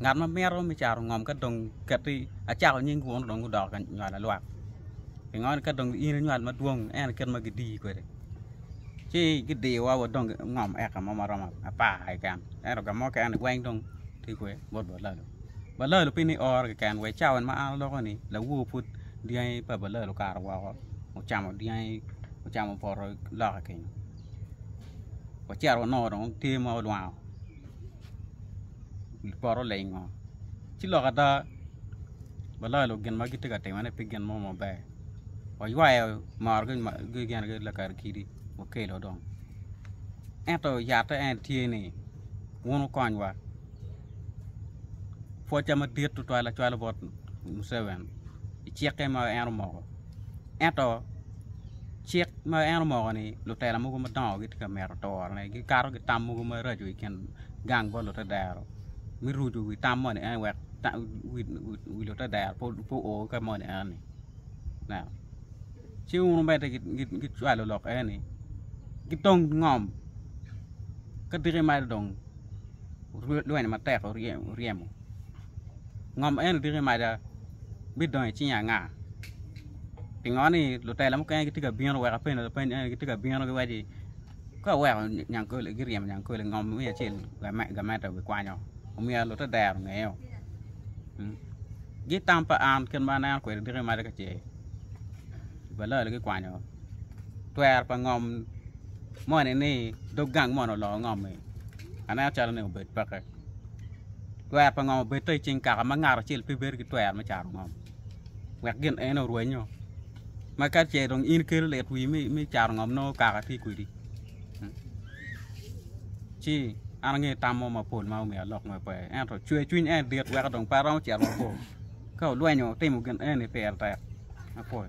Ngat ma mito me caro ngom ka dong keti acako nying wunu dong gudoko ka nywalo lwak. Pingo ni ka dong in inywal madwong en kit ma gidiyi kwede ci gidiyowa wa dong ngom eka mo ma romo apar keken ento ka mukene weng dong tye kwede bot balalo. Balalo pi ni ooro keken wa i cawa ma an aloko ni lawor pud dyangi pa balalo okato woko ocamo dyangi ocamo poto loka kenyo wacito wanongo dong tye ma olwango. wi poto lengo ci lok ada waloyo lok gin ma gitye ka timone pe gin mo maber waywayo morgi gin lakara kidi okelo dong ento yatte en tye ni wun wukonywa pwoca madit tutwal acwal bot Muceveni i cikke ma en omoko. Ento cik ma en omoko ni lutela mogo madongo gitye ka mito turone gikato ki tam mogo maraco i kin gang bot lutedero me rucu wi tam moni eni wek wi lutedero pe o ka moni eni ci wun bene gicwalo lok eni ki tong ngom ka tiki malo dong lweny matek oryemo. Ngom en odiki maca bidongo i cing anga? Pingo ni lutela mukene gitye ka bino wek apenni lapeny eni gitye ka bino giwaci ka weko Nyankole giryemo Nyankole ngom me acel gamente obikwanyo omyero lute dero ngeyeo. Gi tam pa an kit ma aneno kwede diki maca ka ce balalo gikwanyo twero pa ngom moni ni dog gang moni oloko ngom-mi aneno calo ni obed peke. Twer pa ngom obed to i cing kaka ma ngat acel pe bedo ki twer me caro ngom, wek gin ene orwenyo, ma ka ce dong in ikelo lit wii me caro ngom nongo kaka tye kwedi. Hmm. Ci an angeyo tam mo mapol ma omiyo alok mo pe, ento cwer cwiny en dit wek dong pe aromo cito mabor. Ka olwenyo timo gin eni pire tek mapol.